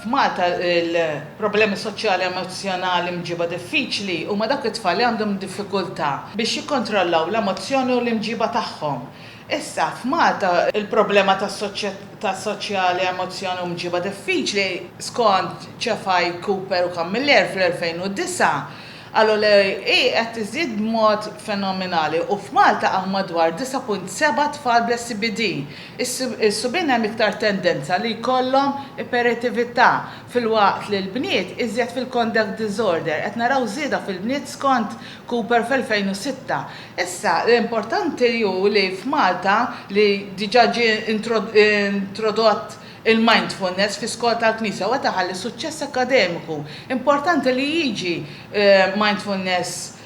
F'Malta l-problemi soċjali emozzjonali mġiba diffiċli huma dawk it-tfal li għandhom diffikultà biex jikkontrollaw l-emozzjoni u l-imġiba tagħhom. Issa, f'Malta l-problema ta' soċjali emozzjoni u mġiba diffiċli, skont Cefai, Cooper u Camilleri fl-2009, qalu li hi qed tiżdied b'mod fenominali u f'Malta hawn madwar 9.7 tfal bl-SCBD, Is-subien hemm iktar tendenza li jkollhom iperetività, filwaqt li l-bniet iżjed fil-conduct disorder. Qed naraw żieda fil-bniet skont Cooper fl-2006. Issa, l-importanti hu li f'Malta, li diġà ġie introdott il-mindfulness fi skola tal-Knisja u qed iħalli suċċess akkademiku, importanti li jiġi mindfulness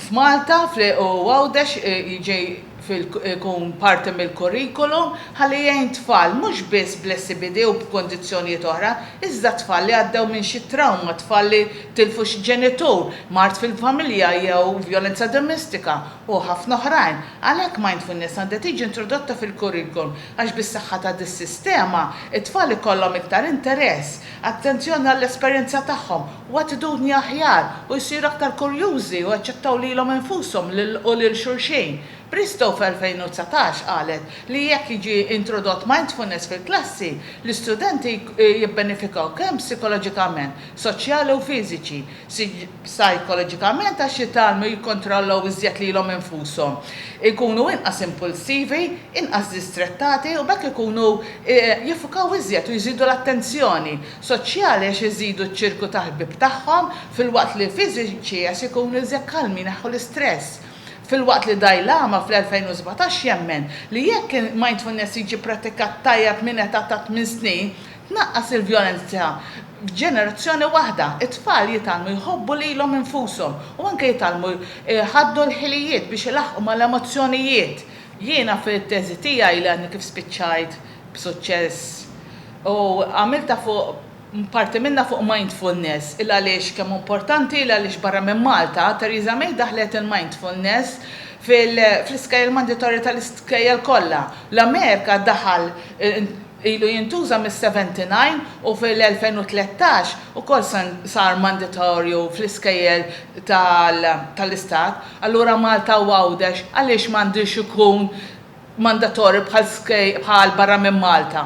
f'Malta u Għawdex jiġi jkun parti mill-kurrikulum ħalli jgħin tfal mhux biss bl-SCBD u b'kundizzjonijiet oħra iżda tfal li għaddew minn xi trawma, tfal li tilfu xi ġenitur, mard fil-familja jew vjolenza domestika u ħafna oħrajn. Għalhekk Mindfulness għandha tiġi introdotta fil-kurrikulum għax bis-saħħa ta' dis-sistema t-tfal ikollhom iktar interess, attenzjoni għall-esperjenza tagħhom u attitudni aħjar, u jsiru aktar kurjużi u jaċċettaw lilhom infushom u lil xulxin. Bristow fl-2019 qalet li jekk jiġi introdott mindfulness fil-klassi, l-istudenti jibbenefikaw kemm psikoloġikament, soċjali u fiżiċi, psajkoloġikament għax jitgħallmu jikkontrollaw iżjed lilhom infushom, ikunu inqas impulsivi, inqas distrettati u b'hekk ikunu jiffukaw iżjed u jżidu l-attenzjoni. soċjali għax iżidu ċ-ċirku ta' ħbieb tagħhom, filwaqt li fiżiċi għax ikunu iżjed kalmi jneħħu l-istress. Filwaqt li Dai Lama fl-2017 jemmen li jekk il-mindfulness jiġi prattikat tajjeb minn età ta' tmien snin, tnaqqas il-vjolenza f'ġenerazzjoni waħda. It-tfal jitgħallmu jħobbu lilhom infushom u anke jitgħallmu jħaddnu l-ħilijiet biex ilaħħqu mal-emozzjonijiet. Jiena fit-teżi tiegħi li għadni kif spiċċajt b'suċċess, U għamiltha fuq, parti minnha fuq mindfulness, il għaliex kemm hu importanti, il għaliex barra minn Malta, Theresa May daħħlet il-mindfulness fl-iskejjel manditorji tal-iskejjel kollha. L-Amerika daħal, ilu jintuża mis-79 u fil-2013 ukoll sar manditorju fl-iskejjel tal-istat. Allura Malta u Għawdex għaliex m'għandux ikun mandatorju bħal barra minn Malta?